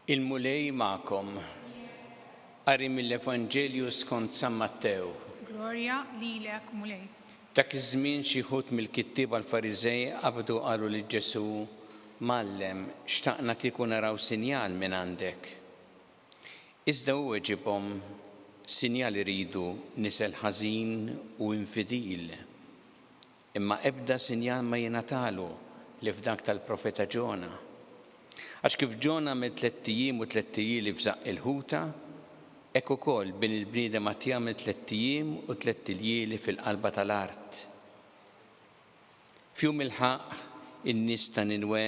Il-Mulej magħkom. Qari mill-Evanġelju skont San Mattew. Glorja lilek, Mulej. Dak iż-żmien xi wħud mill-kittieba l-Fariżej qabdu qalu lil Ġesù, Mgħallem, xtaqna kieku naraw sinjal mingħandek. Iżda hu weġibhom, Sinjal iridu nisel ħażin u infidil. Imma ebda sinjal ma jingħatalu li f'dak tal-profeta Ġona. Għax kif Ġon għamel tlett ijiem u tlett ijlieli f'żaqq il-ħuta, hekk ukoll Bin il-bniedem għad jagħmel tlett ijiem u tlett iljieli fil-qalba tal-art. F'jum il-ħaqq, in-nies ta' Ninwe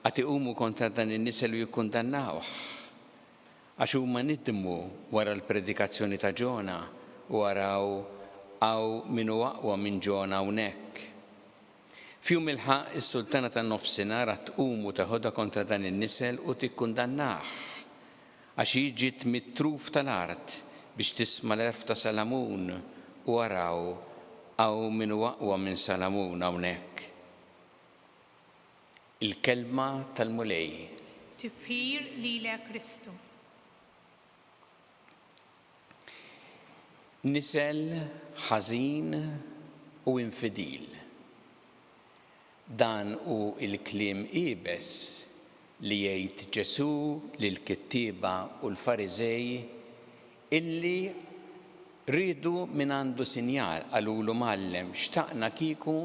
għad iqumu kontra dan in-nisel u jikkundannawh. Għax huma nidmu wara l-predikazzjoni ta' Ġona, u araw, hawn min hu aqwa minn Ġona hawnhekk. F'jum il-ħaqq, is-Sultana tan-Nofsinhar għad tqum u teħodha kontra dan in-nisel u tikkundannah. Għax hi ġiet mit-truf tal-art biex tisma' l-għerf ta' Salamun, u araw, hawn min hu aqwa minn Salamun hawnhekk. Il-kelma tal-Mulej. Tifħir lilek Kristu. Nisel ħażin u infidil. Dan hu l-kliem iebes li jgħid Ġesù lill-kittieba u l-Fariżej illi riedu mingħandu sinjal. Qalulu, Mgħallem, xtaqna kieku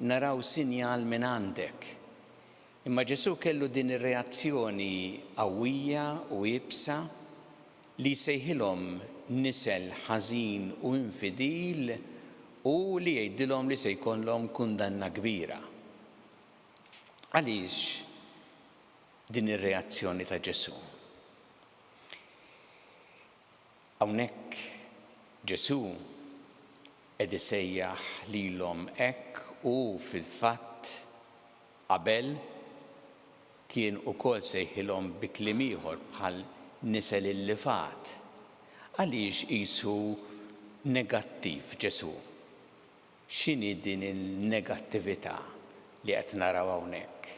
naraw sinjal mingħandek. Imma Ġesù kellu din ir-reazzjoni qawwija u iebsa li jsejħilhom nisel ħażin u infidil u li jgħidilhom li se jkollhom kundanna kbira. Għaliex din ir-reazzjoni ta' Ġesù? Hawnhekk Ġesù qed isejjaħ lilhom hekk u fil-fatt Qabel, kien ukoll sejħilhom bi kliem ieħor bħal nisel illifat. Għaliex qisu negattiv Ġesù? X'inhi din il-negattività li qed naraw hawnhekk?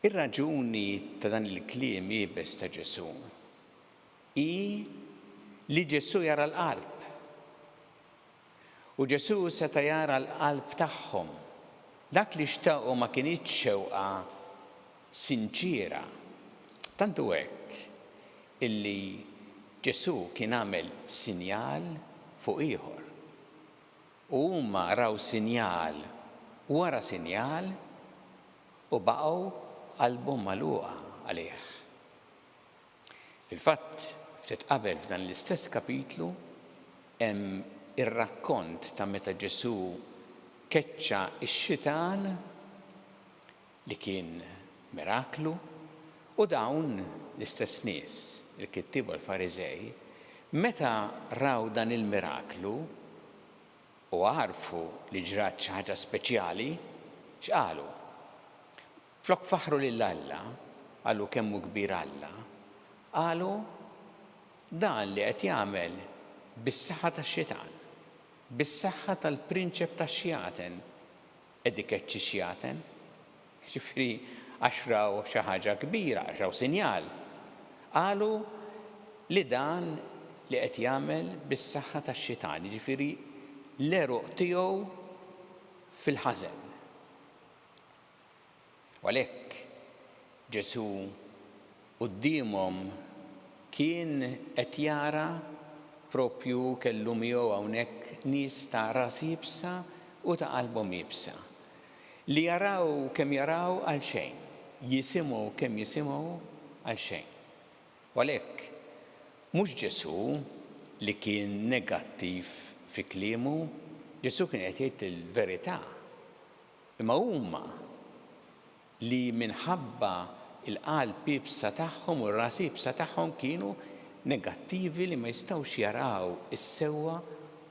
Ir-raġuni ta' dan il-kliem iebes ta' Ġesù hi li Ġesù jara l-qalb. U Ġesù seta' jara l-qalb tagħhom. Dak li xtaqu ma kinitx xewqa sinċiera. Tant hu hekk illi Ġesù kien għamel sinjal fuq ieħor. U huma raw sinjal wara sinjal u baqgħu qalbhom magħluqa għalih. Fil-fatt, ftit qabel f'dan l-istess kapitlu hemm ir-rakkont ta' meta Ġesù keċċa x-xitan, li kien miraklu, u dawn l-istess nies, il-kittieba u l-Fariżej, meta raw dan il-miraklu u għarfu li ġrat xi ħaġa speċjali, x'qalu? Flok faħħru lil Alla, qalu kemm hu kbir Alla, qalu, Dan li qed jagħmel bis-saħħa tax-xitan, bis-saħħa tal-prinċep tax-xjaten qed ikeċċi x-xjaten. Jiġifieri għax raw xi ħaġa kbira, għax raw sinjal, qalu li dan li qed jagħmel bis-saħħa tax-xitan, jiġifieri l-għeruq tiegħu fil-ħażen. U għalhekk Ġesù quddiemhom kien qed jara proprju kellu miegħu hawnhekk nies ta' ras iebsa u ta' qalbhom iebsa, li jaraw kemm jaraw għalxejn, jisimgħu kemm jisimgħu għalxejn. U għalhekk mhux Ġesù li kien negattiv fi kliemu, Ġesù kien qed jgħid il-verità Imma huma, li minħabba l-qalb iebsa tagħhom u r-ras iebsa tagħhom kienu negattivi li ma jistgħux jaraw is-sewwa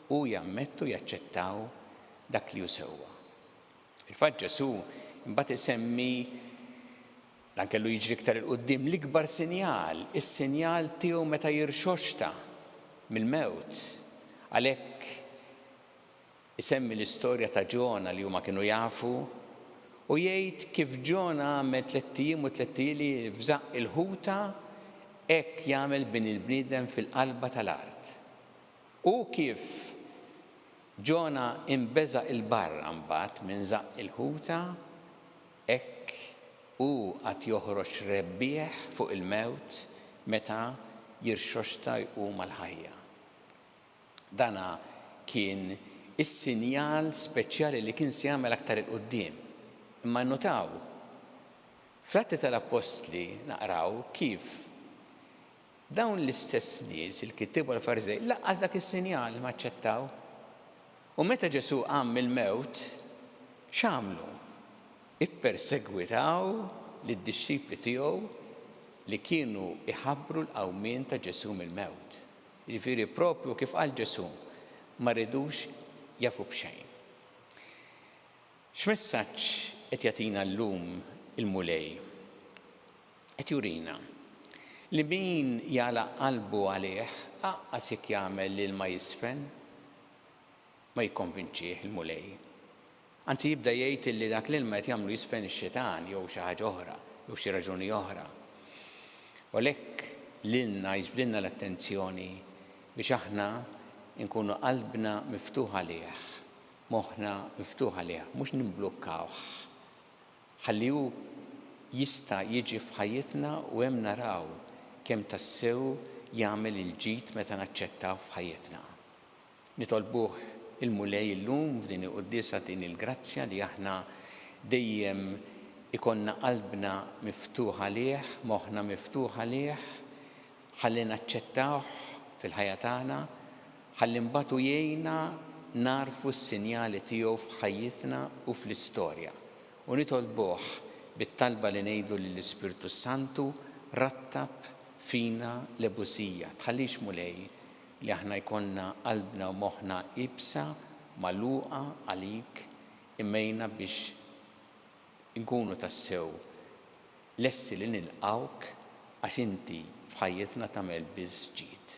u jammettu, jaċċettaw, dak li hu sewwa. Fil-fatt Ġesù imbagħad isemmi, dan kellu jiġri iktar 'il quddiem, l-ikbar sinjal, is-sinjal tiegħu meta jirxoxta mill-mewt. Għalhekk Isemmi l-istorja ta' Ġona li huma kienu jafu u jgħid kif Ġona għamel tlett ijiem u tlett ijeli f'żaqq il-ħuta, hekk jagħmel Bini l-bniedem fil-qalba tal-art. U kif Ġona inbeżaq 'il barra mbagħad minn żaqq il-ħuta, hekk hu għad joħroġ rebbieħ fuq il-mewt meta jirxoxta jqum għall-ħajja. Dan kien is-sinjal speċjali li kien se jagħmel aktar 'il quddiem. Imma nnutaw, fl-Atti tal-Appostli naqraw kif dawn l-istess nies, il-kittieba u l-Fariżej, lanqas dak is-sinjal ma aċċettaw. U meta Ġesù qam mill-mewt, x'għamlu? Ippersegwitaw lid-dixxipli tiegħu li kienu jħabbru l-qawmien ta' Ġesù mill-mewt. Jiġifieri proprju kif qal Ġesù, ma rridux jafu b'xejn. X'messaġġ qed jagħtina llum il-Mulej? Qed jurina li min jagħlaq qalbu għalih aqqas jekk jagħmel l-ilma jiżfen, ma jikkonvinċih il-Mulej. Anzi jibda jgħid illi dak l-ilma qed jagħmlu jiżfen ix-xitan jew xi ħaġa oħra, jew xi raġuni oħra. U għalhekk lilna jiġbdilna l-attenzjoni biex aħna nkunu qalbna miftuħ għalih, moħħna miftuħ għalih, mhux nimblukkawh. Ħalli hu jista' jiġi f'ħajjitna u hemm naraw kemm tassew jagħmel il-ġid meta naċċettawh f'ħajjitna. Nitolbuh il-Mulej illum f'din il-quddiesa din il-grazzja li aħna dejjem ikollna qalbna miftuħ għalih, moħħna miftuħ għalih, ħalli naċċettawh fil-ħajja tagħna, ħalli mbagħad hu jgħinna nagħrfu s-sinjali tiegħu f'ħajjitna u fl-istorja. U nitolbuh bit-talba li ngħidu lill-Ispirtu s-Santu, Rattab fina l-ebusija, tħallix Mulej, li aħna jkollna qalbna u moħħna iebsa, magħluqa għalik, imgħinna biex inkunu tassew lesti li nilqgħuk għax inti f'ħajjitna tagħmel biss ġid.